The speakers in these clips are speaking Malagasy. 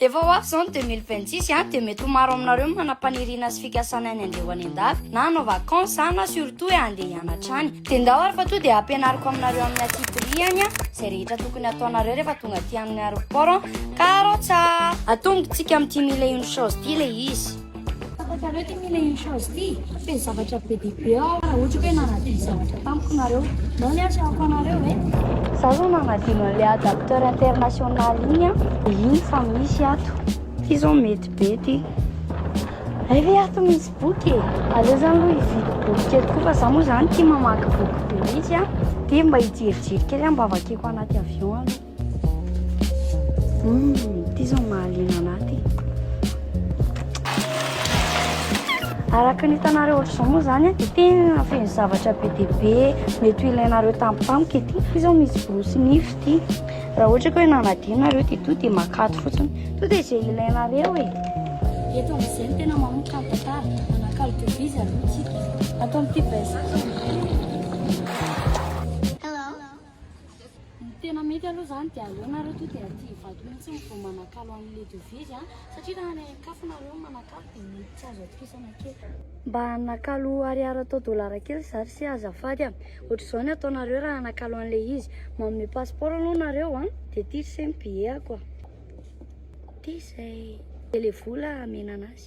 Efa ho avy izao ny deux mille vingt six a, dia mety ho maro aminareo ny manam-paniriana sy fikasana ny handeha ho any an-dafy, na hanao vacances a, na surtout hoe handeha hianatra any. Dia ndao ary fa toa dia hampianariko aminareo amin'ny aty Piriany a, izay rehetra tokony hataonareo rehefa tonga aty amin'ny aeroport an, karo tsa! Atombontsika amin'ity mille et une choses ity ilay izy. Fantatrareo ty ny le inch'Allah ty fa feno zavatra be dia be ao raha ohatra hoe nanadino zavatra tamiko nareo. Nao ny atrehako anareo e. Za zao nanadino an'le adapteur international iny an, de iny fa misy ato. Ty zao mety be ty. Hay ve ato misy boky e? Aleo zany aloha hividy boky kely koa fa za moa zany tia mamaky boky be mihitsy an, dia mba hijerijery kely an mba vakiko anaty avion aloha. Araka ny hitanareo ohatr'izao moa zany dia tena feno zavatra be dia be mety ho ilainareo tampotampoka ity ity zao misy borosy nify ity raha ohatra ka hoe nanadio nareo dia to dia makaty fotsiny to dia izay ilainareo e eto amin'izay no tena manomboka ny tantara manakalo de bizy aloha tsika ato amin'ity best Ny tena mety aloha izany dia aleo nareo tonga dia aty Ivato mihitsy no vao manakalo an'i le devizy an! satria raha any Ankafo nareo no manakalo dia mety tsy azo atokisana kely. Mba nakalo ariary atao dolara kely za ry se azafady a! ohatr'izao ny ataonareo raha hanakalo an'ilay izy, manome passeport aloha nareo an! dia aty ry se ny billet-ako a! dia izay! dia ilay vola amenana azy.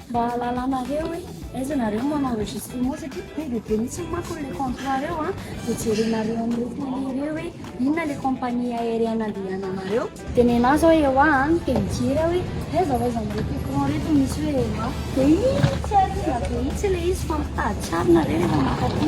Mba hahalalanareo hoe aiza nareo no manao enregistrement satria be dia be mihitsy manko le contrat reo an, dia jerenareo amin'ireo télé ireo hoe inona le compagnie aérienne andehananareo. Dia nenà zao ewa an, dia mijery aho hoe aiza ho aiza amin'reto écran reto misy hoe ewa. Dia iny tsy ariana be mihitsy ilay izy fa mitady tsara nareo rehefa mankaty.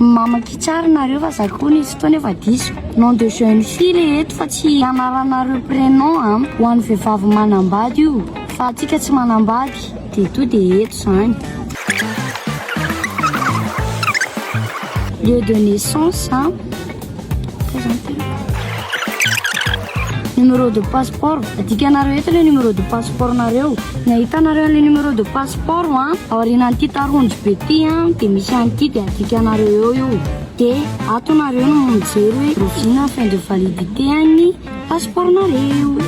Mamaky tsara nareo fa za koa nisy fotoana efa diso. Nom de jeune fille le eto fa tsy anaranareo prénom a. Ho an'ny vehivavy manambady io fa antsika tsy manambady de to de eto zany. Lieu de naissance a. Numéro de passeport. Adikanareo eto le numéro de passeport nareo. Ny ahitanareo le numéro de passeport an, ah, aorianan'ity tarondro be ty an, ah, de misy an'ity de adikanareo eo io. De ato nareo no mijery hoe rovina fin de validité an'ny passeport nareo.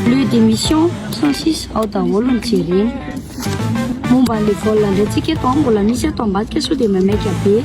Lieu d'émission 106 ao daholo ny jerena. Momba an'le vol ndray tsika eto, ah, mbola misy eto ambadika sao de maimaika be.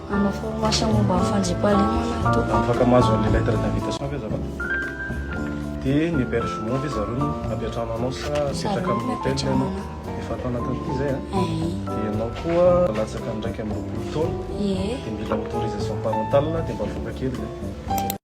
Manao formation momba ny fandriampahalemana ato. Afaka mahazo an'ilay lettre d'invitation ve za fa? De ny hébergement ve zareo no ampiantrano anao sa apetraka amin'ny hotel ianao? Efa ato anatin'ity zay a? De ianao koa latsaka ny iraika amby roapolo taona de mila autorisation parentale de mba avoaka kely zay.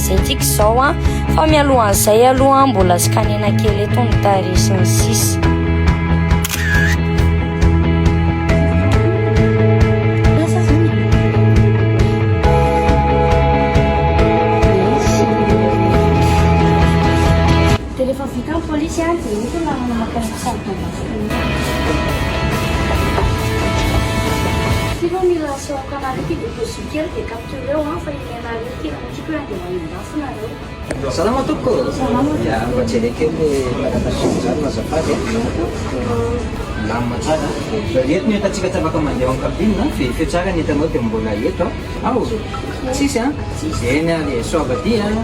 Zay tiako izao an, fa mialohan'izay aloha mbola scanena kely eto ny tarehy sy ny sisa. Salama tompoko ô! Ya, mba jereo kely le madagascar zany no azafady e! Milamina tsara an! Eto ny entantsika tsy afaka mandeha ao amin'ny cabine an! Ve feo tsara ny entanao dia mbola eto an! Ao! Tsisy an! Eny ary e! Soa vadia an!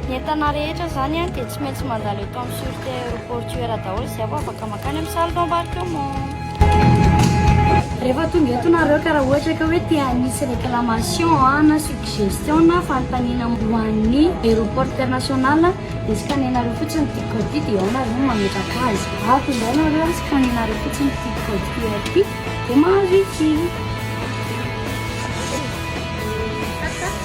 Ny entana rehetra izany dia tsy maintsy mandalo eto amin'ny sûreté aéroportuaire daholo izay vao afaka mankany amin'ny salle d'embarquement. Rehefa tonga eto nareo ka raha ohatra ka hoe te hanisy réclamation na suggestion na fanontaniana ho an'ny aéroport international dia scanner-nareo fotsiny ity code ity dia ao nareo no mametraka azy. Ato izao nareo ary scanner-nareo fotsiny ity code QR ity dia mahazo ity.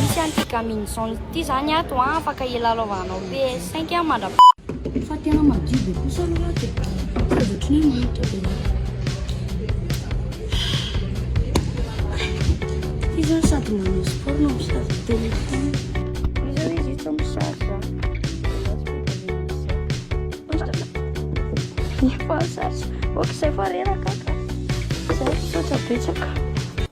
Misy an ity gamine zone ity zany ato an, afaka hilalaovanao PS cinq an mandra Fa tena madio be kosa aloha ato e. Fa ohatran'ny hoe manitra be loatra. Ity zao sady manao sport no mi-charge téléphone. Izao izy tsy mi-charge.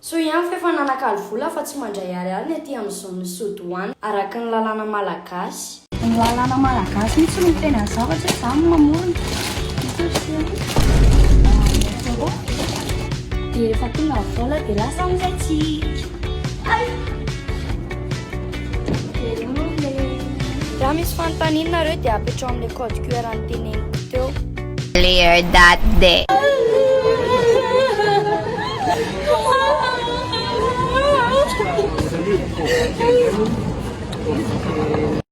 Soa ihany fa efa nanakalo vola fa tsy mandray ariary ny aty amin izao ny sous douane araka ny lalàna malagasy. Ny lalàna malagasy mihitsy no miteny ny zavatra hoe za no mamorona. Dia rehefa tonga ny vola dia lasa amin'izay tsika. Raha misy fanontaniana nareo dia apetrao amin'ilay code QR an'ny teneniko teo. Clear that day.